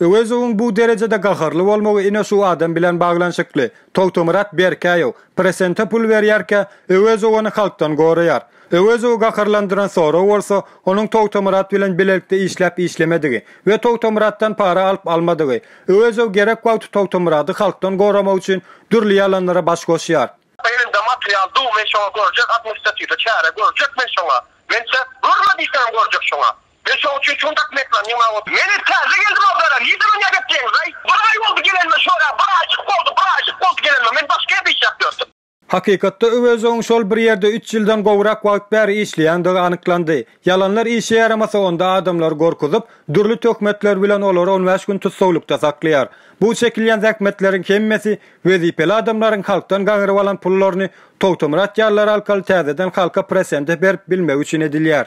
Öwezowyň bu derejede gaharly bolmagy ine şu adam bilen baglanyşykly. Togtamyrat Berkäýew Presente pul berýärkä, Öwezow ony halkdan goraýar. Öwezowy gaharlandyran sorag bolsa, onuň Togtamyrat bilen bilelikde işläp-işlemedigi we Togtamyratdan para alyp-almadygy. Öwezow gerek wagty Togtamyrady halkdan goramak üçin dürli ýalanlara baş goşýar. Elinde material dur men şoňa görjek administratiwda çäre görjek men şoňa men çäk görme diýseňem görjek şoňa. Men şoň üçin şuny daşyna ýykylan ýygnaga oturdym. Men hem täze geldim obzara. Nirde dünýä gepleýiňiz-aý? Bir aý boldy gelenime şora, bir aýjyk boldy, bir aýjyk boldy gelenime. Men başga ýerde işläp ýördüm. Hakykatda Öwezowyň şol bir ýerde üç ýyldan gowrak wagt bäri işleýändigi anyklandy. Ýalanlar işe ýaramasa onda adamlary gorkuzyp, dürli töhmetler bilen olary on bäş gün tussaglykda saklaýar. Bu çekilýän zähmetleriň hemmesi wezipeli adamlaryň halkdan gaňryp alan pullaryny Togtamyrat ýalylar alkaly täzeden halka prosente berip bilmegi üçin edilýär.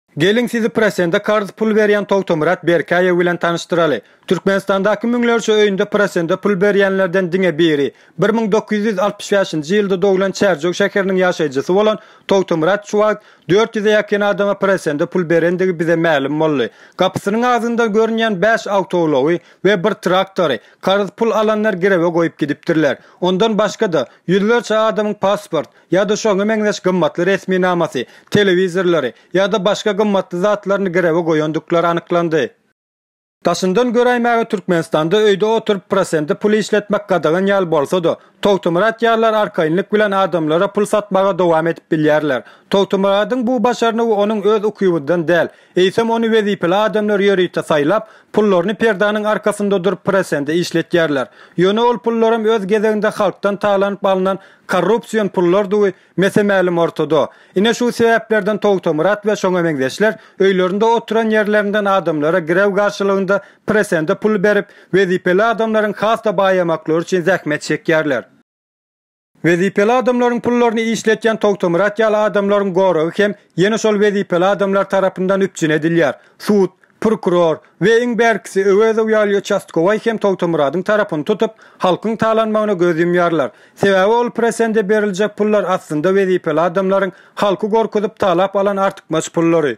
Geliň sizi prosende karz pul berýän Togtomyrat Berkäýew bilen tanyşdyraly. Türkmenistandaky müňlerçe öýünde prosende pul berýänlerden diňe biri, bir müň dokuz ýüz altmyş bäşinji ýylda doglan Çärjew şäheriniň ýaşaýjysy bolan Togtomyrat şu wagt dört ýüze ýakyn adama prosende pul berendigi bize mälim boldy. Gapysynyň agzyndan görünýän bäş awtoulagy we bir traktory karz pul alanlar girewe goýup gidipdirler. Ondan başga-da, ýüzlerçe adamyň pasport, ýa-da şoňa meňzeş gymmatly resminamasy, telewizorlary ýa-da başga gymmatly zatlaryny girewe goýandyklar anyklandy. Daşyndan göräýmäge Türkmenistanda öýde oturyp prosente pul işletmek gadagan ýaly bolsa-da, Togtumyrat ýalylar arkaýynlyk bilen adamlara pul satmaga dowam edip bilýärler. Togtumyradyň bu başarnygy onuň öz ukybydan däl, eýsem ony wezipeli adamlar ýörite saýlap, pullaryny perdäniň arkasynda durup prosente işletýärler. Ýöne ol pullaram öz gezeginde halkdan talanyp alnan korrupsion pullardygy mese-mälim ortada. Ine şu sebäplerden Togtamyrat we şoňa meňzeşler öýlerinde oturan ýerlerinden adamlara girew garşylygynda prosende pul berip, wezipeli adamlaryň has-da baýamaklary üçin zähmet çekýärler. Wezipeli adamlaryň pullaryny işletýän Togtamyrat ýaly adamlaryň goragy hem ýene şol wezipeli adamlar tarapyndan üpjün edilýär. Sud, prokuror we iň bärkisi Öwezow ýaly uçastkowaý hem Togtamyradyň tarapyny tutup, halkyň talanmagyna göz ýumýarlar. Sebäbi ol prosende beriljek pullar aslynda wezipeli adamlaryň halky gorkuzyp talap alan artykmaç pullary.